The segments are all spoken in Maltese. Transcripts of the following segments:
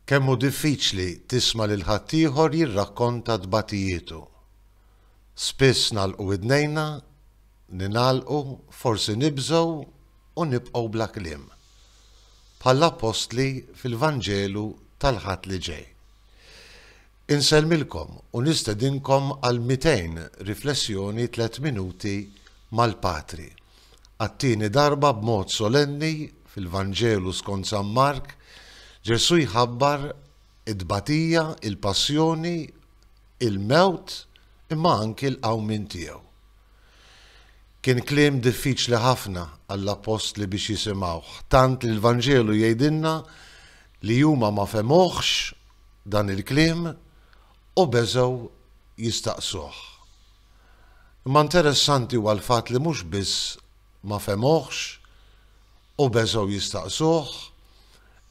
Kemm hu diffiċli tisma' lil ħaddieħor jirrakkonta tbatijietu. Spiss nagħlqu widnejna, ningħalqu, forsi nibżgħu u nibqgħu bla kliem. Bħall-appostli fil-Vanġelu tal-Ħadd li ġej. Insellmilkom u nistedinkom għal 200 riflessjoni tliet minuti mal-Patri, għat-tieni darba b'mod solenni fil-Vanġelu skont San Mark, Ġesù jħabbar it-tbatija, il-passjoni, il-mewt imma anki l-qawmien tiegħu. Kien kliem diffiċli ħafna għall-appostli biex jisimgħuh, tant li l-Vanġelu jgħidilna li huma ma fehmuhx dan il-kliem u beżgħu jistaqsuh. Imma interessanti huwa l-fatt li mhux biss ma fehmuhx u beżgħu jistaqsuh,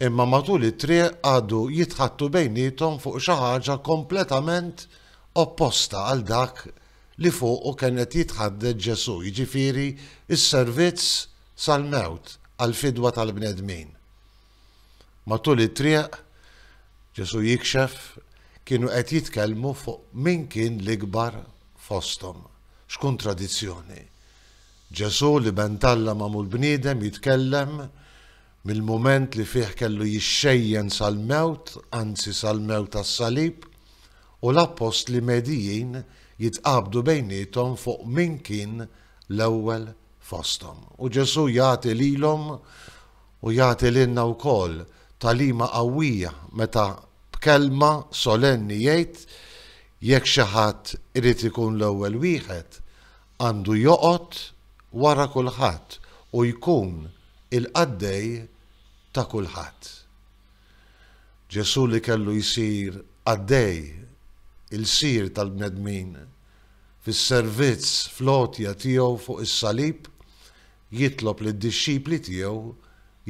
imma matul it-triq qagħdu jitħaddtu bejniethom fuq xi ħaġa kompletament opposta għal dak li fuqu kien qed jitħaddet Ġesù, jiġifieri s-servizz sal-mewt għall-fidwa tal-bnedmin. Matul it-triq, Ġesù jikxef, kienu qed jitkellmu fuq min kien l-ikbar fosthom. X'kuntradizzjoni! Ġesù, l-Iben t'Alla magħmul bniedem, jitkellem mill-mument li fih kellu jixxejjen sal-mewt, anzi sal-mewt tas-salib, u l-appostli medijin jitqabdu bejniethom fuq min kien l-ewwel fosthom. U Ġesù jagħti lilhom u jagħti lilna wkoll tagħlima qawwija meta b'kelma solenni jgħid, Jekk xi ħadd irid ikun l-ewwel wieħed, għandu joqgħod wara kulħadd u jkun il-qaddej ta' kulħadd. Ġesù li kellu jsir qaddej, ilsir tal-bnedmin, fis-servizz, fl-għotja tiegħu fuq is-salib, jitlob lid-dixxipli tiegħu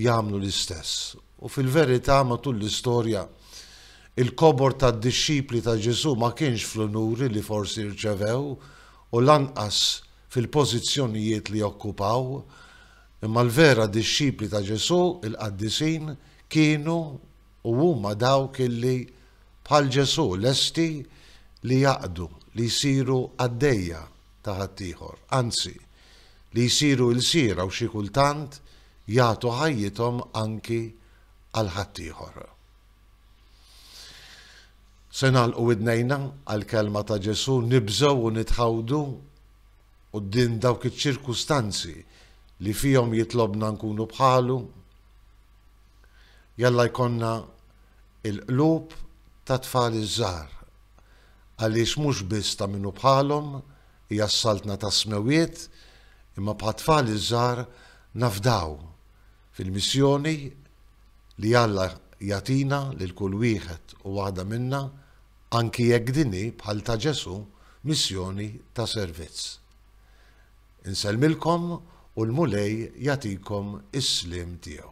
jagħmlu l-istess. U fil-verità, matul l-istorja, il-kobor tad-dixxipli ta' Ġesù ma kienx fl-unuri li forsi rċevew u lanqas fil-pożizzjonijiet li okkupaw. Imma l-vera dixxipli ta' Ġesù, il-qaddisin, kienu u huma dawk illi, bħal Ġesù, lesti li jaqdu, li jsiru qaddejja ta' ħaddieħor, anzi, li jsiru ilsiera u xi kultant jagħtu ħajjithom anki għal ħaddieħor. Se nagħlqu widnejna għall-kelma ta' Ġesù, nibżgħu u nitħawdu quddiem dawk iċ-ċirkustanzi li fihom jitlobna nkunu bħalu? Jalla jkollna il-qlub ta' tfal iż-żgħar għaliex mhux biss ta' minnu bħalhom Hija s-Saltna tas-Smewwiet, imma bħat-tfal iż-żgħar nafdaw fil-missjoni li Alla jagħtina lil kull wieħed u waħda minna, anki jekk din hi, bħal ta' Ġesù, missjoni ta' servizz. Insellmilkom u l-Mulej jagħtikom is-sliem tiegħu.